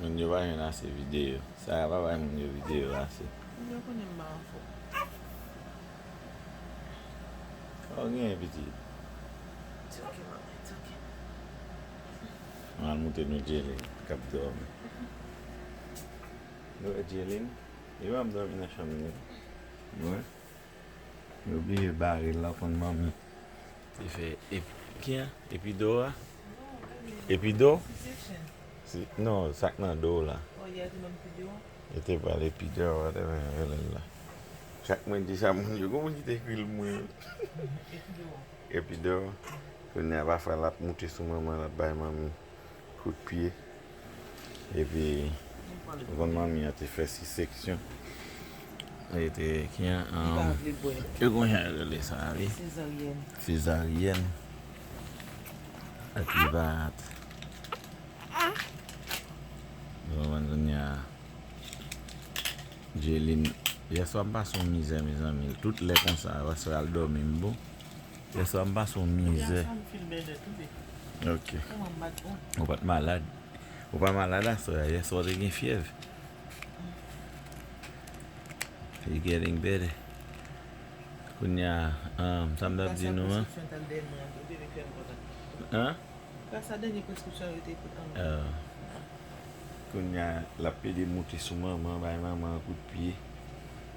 Moun yo pa jwenn ase videyo. Sara pa bay moun yo videyo ase. Moun yo konnen m ba enfo. Sa w genyen pitit? It's ok mama, it's ok. Mwen al moute nou Jaylin k ap dòmi. Nou wè Jaylin? Li pa ap dòmi nan chanm li. Mwen oblije bare l la w konn manmi. Li fè ep kien? Epi Dora? Epi do? Non, sak nan do w la. Yo te pral epi do, whatever yo rele l la. Chak mwen di sa moun yo, gen yon moun ki te ekri l pou mwen. Epi do. Kounye a pafwa l ap moute sou manman l ap bay manmi kout pye. Epi, van manmi an te fè si seksyon. Li te ki an? Li pa vle bwè. Yo kon jan yo rele sa a wi. Sezaryèn. Sezaryèn. Ak li va at. Ou konprann kounye a? Djelin. Yèswa m pase yon mizè mezanmi. Tout lè konsa, yèswa al dòmi m bon. Yè swa m pase yon mizè. Ok. Ou pat malad. Ou pa malad aswè a. Yè swa w te gen fyèv. You getting better. Kounye a, um, sa m tap di nou an. An? Oh. Kounye a, lap plede moute sou manman, bay manman kout pye.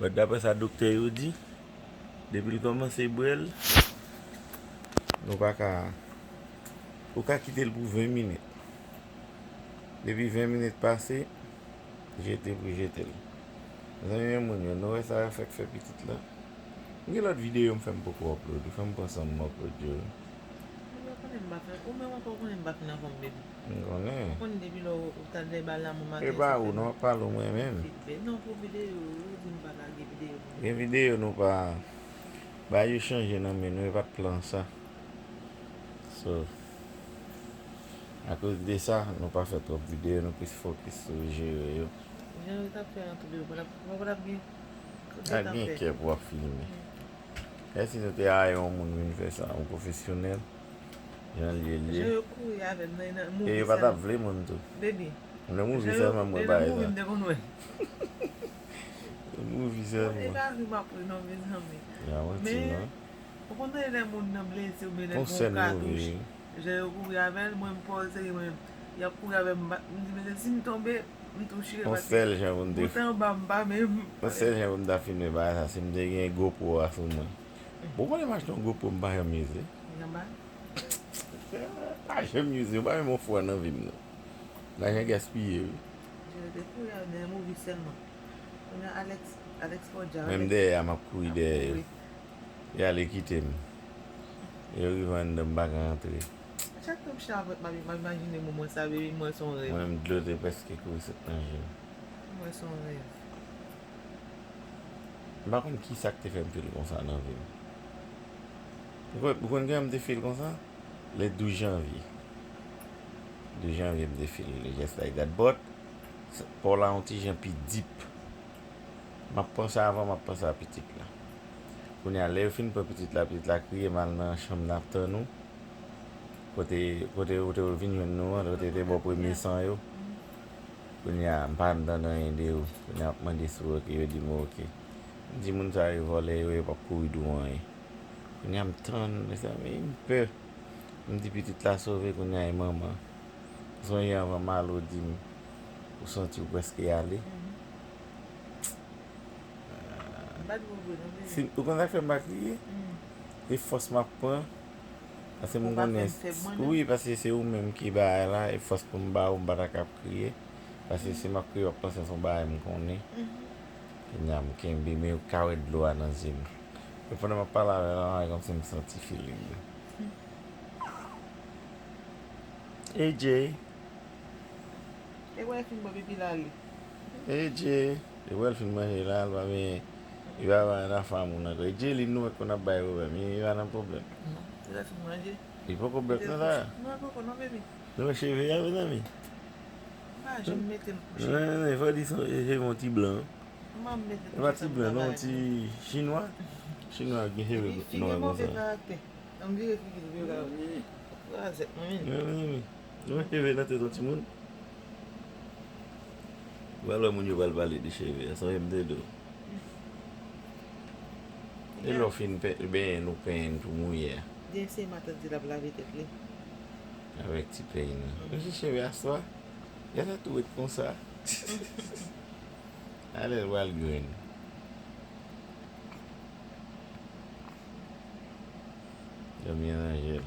But dapre sa doktè yo di, depi l kòmanse bwè l, nou pa ka, ou ka kite l pou 20 minit. Depi 20 minit pase, jete pou jete l. Mezanmi men moun yo, nou wè sa yo fè k fè pitit la. M gen lòt videyo m fè m poko upload, fò m pran san m upload yo. Ou menm ankò ou konnen m pa fin nan fòm baby. M konnen. M konnen depi lè ou tande lè bal lanmou maten sa fè mal. Epa ou non, pale ou mwen menm. Feedback non pou video yo, yo di nou pa lage video nou. Gen video nou pa bay yo chanje nan men nou e pat plan sa. So akoz de sa nou pa fè twòp video nou plis fokis sou jere yo. Jan yo tap fè an tou devan la papa patap gen kote tap fè. Tap gen kè pou wap filme. Esi nou te aye yon moun vin fè sa, yon pwofesyonèl. Jan yo ye. E yo pa tap vle moun tou. Nan movie selman mwen pa wè sa. Nan movie selman. Yon manti non. Fon sèl movie wi. Fon sèl jan pou m ta filme bagay sa si m te gen GoPro a sou mwen. Bon konnen m achte yon gwo po m pa janm use. M pa janm use m pa menm yon fwa nan vi m non. Lajan gaspiye wi. Menm dèyè a m ap kouri dèyè yo. Yo ale kite m. Lè yo rive anndan m pa ka antre. Mwen menm dlo te prèske kouri sot nan je m. M pa konn kisa k te fè m fil konsa nan vi m. Ou konn kijan m te fil konsa? Le 12 janvye. 12 janvye m te fil le jès like that but pa w la yon ti jan pi deep. M ap pran sa avan m ap pran sa pitit la. Kounye a lè yo fin pran pitit la, pitit la kriye m al nan chanm nan ap tann ou. Kote ou te vin jwenn nou an, kote te bò premye san yo. Kounya m pa antann anyen de yo. Kounya wap mande si w ok yo di m ok. M di moun sa yo vòlè yo yo pap kouri di w anyen. Kounya m tann mezanmi m pè. M di pitit la sove kounya e manman. M sonje anvan Malo di m ou santi w prèske ale. Ou konn sa k fè m pa kriye? E fòs m ap pran. Paske m konnen, wi paske se ou menm ki bagay la, e fòs pou m ba ou m pa ta ka ap kriye, paske si m ap kriye w ap panse se yon bagay m konnen, kounye a m kenbe men ou ka wè dlo a nan zye m, e pandan m ap pale avè l la e kòmsi m santi feeling yo. AJ. Edje li wèl fin manje la li pa benyen li pa bay nan fanm moun ankò edje li nou wè konn ap bay problèm li pa nan problèm li poko bèk nan sa nou wè cheve a mezanmi mezanmi fò di son cheve yon ti blan li pa ti blan non yon ti chinwa chinwa gen cheve nwa konsa mezanmi nou wè cheve nan tèt yon timoun. Wap wè moun yo pral pale de cheve a sonje m te di w e lè w fin benyen nou penyen n tou mouye a. Di eseye matant di lap lave tèt li. Avèk ti peny nan. Mesye cheve a swa gad a tou ret konsa a lè l pral grenn. Dòmi an ranje l.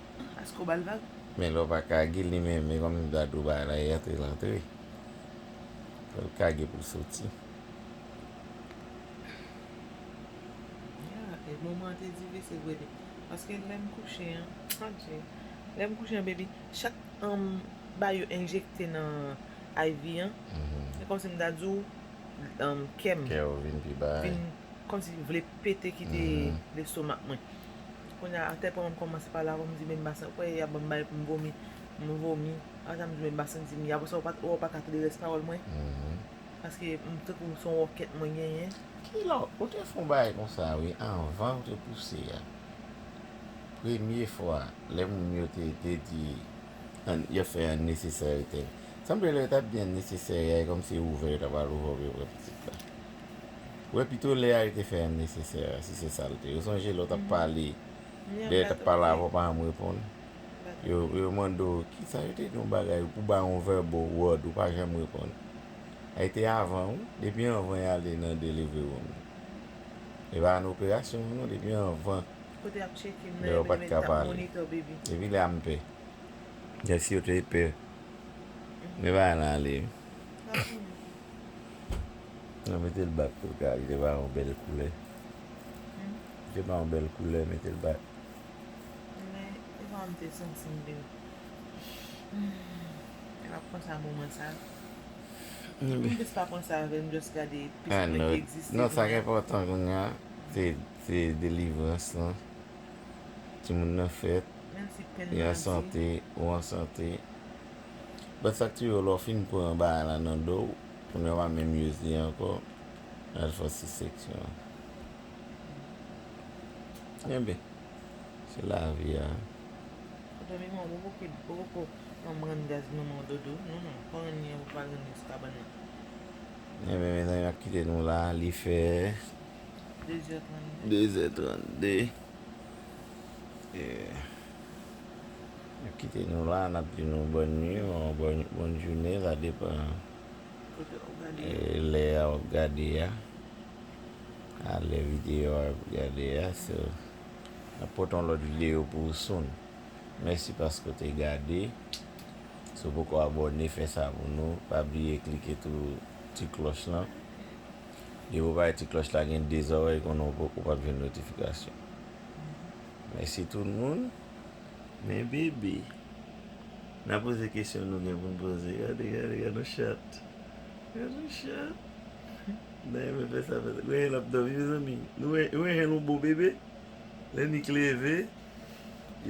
Aske w bal vag? Men lè w pa kage li menm men kòm dadou bay la e antre l antre. Fò l kage pou l soti. Ya e moman an te difisil vre wi. Paske lè m kouche an adje. Lè m kouche an baby chak m bay yon enjekte nan iv an se kòmsi m ta di w kè m vin kòmsi vle pete kite lestomak mwen. Kounya a tèt mwen kòmanse pale avèw m di men basen ou kwè yap banm bay poum vomi m vomi apresa m di men basen dim y apresa ou paka tande rès pawòl mwen paske m tankou son wòkèt mwen genyen. Kilò ou te fon bagay konsa wi anvan ou te pouse a premye fwa lè moun yo te te di yap fè unnecessary thing sanble lè yo tap di unnecessary a e kòmsi ouvè yo ta pral ouvè ou pou yo pran pitit la. Wè pito lè a yo te fè an nesesè si se sa l te. Ou sonje lè w t ap pale lè yo t ap pale avè w pa janm reponn yo mande w ki sa yo te di yon bagay pou ba yon vèbo wòd ou pa janm reponn a yo te avan wi depi anvan y ale nan delivri woum e pa nan operasyon an non depi anvan lè yo pa t ka pale depi lè a m pè lè si yo te pè men bagay lan ale wi. Nan mete l bak pou gade li ba yon bèl koulè. Li ba yon bèl koulè mete l bak. Men e pa m te santi m byen. E pa pran sa moman sa. M plis pa pran sa avè m just gade plis mwen ki egziste kounye. Non sa ki enpòtan kounye a se delivrans lan. Timoun nan fèt. Menm si pen nan di. Li an sante ou an sante. Bat sak touye w lè w fin pran bagay la nan do w kounye a w pa menm use li ankò lè al fè sou seksyon an enben se lavi a. Mezanmi mwen wè ou poko janm rann gaz nan men w dodo non non pa rann li anko pa rann li sou kabann nan. Enben mezanmi map kite nou la li fè 2 zè 32 2 zè 32 e. Yo kite nou la a, n ap di nou bòn nui osnon bòn joune, sa depan lè a w ap gade a, ak lè videyo a ap gade a. So, n ap pote yon lòt videyo pou ou soon. Mèsi paske ou te gade. Si w poko abòne, fè sa pou nou. Pa bliye klike tou ti klòch lan. Depi ou pa wè ti klòch la gen de zòrèy konnen ou pap jwenn notifikasyon. Mèsi tout moun. Men bebe. Nan poze kesyon nou gen pou n poze. Gade, gade, gade yon chat. Gade yon chat. N ta renmen fè sa, fè sa. Gwenyen ap dòmi mezanmi. Nou wè, nou wè jan nou bo bebe? Lè Nik leve,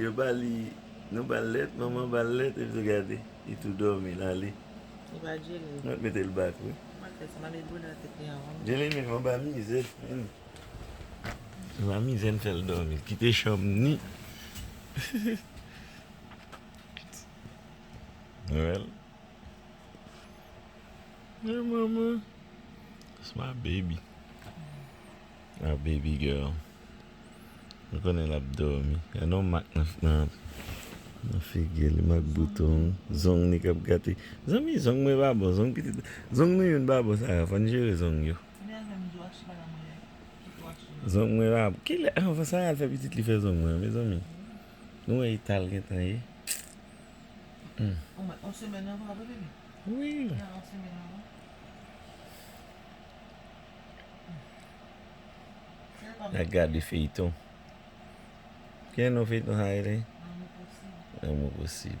yo ba li, nou ba l lèt, manman ba l lèt, epi tou gade, li tou dòmi, l ale. Li pa djele. Mwen ap mete l back wi. Mwen ap fè sa, m ap met bouda tete anvan m dòmi. Djele menm anba mize. La mizè n fèl dòmi kite chanm ni Nou wèl Hey mama That's my baby My baby girl Mwen konnen lap dòmi Gen yon mak nan figi li mak bouton Zong li kap gate Zanmi zong mwen pa bon Zong pitit Zong nou youn pa bon sa yo fòn jere zong yo. Zong mwen la Kilè anvan sa yal fè pitit li fè zong mwen mezanmi Nou wè etal gentan ye Nap gade feyton Kilè non feyton sa rele Lanmou posib Lanmou posib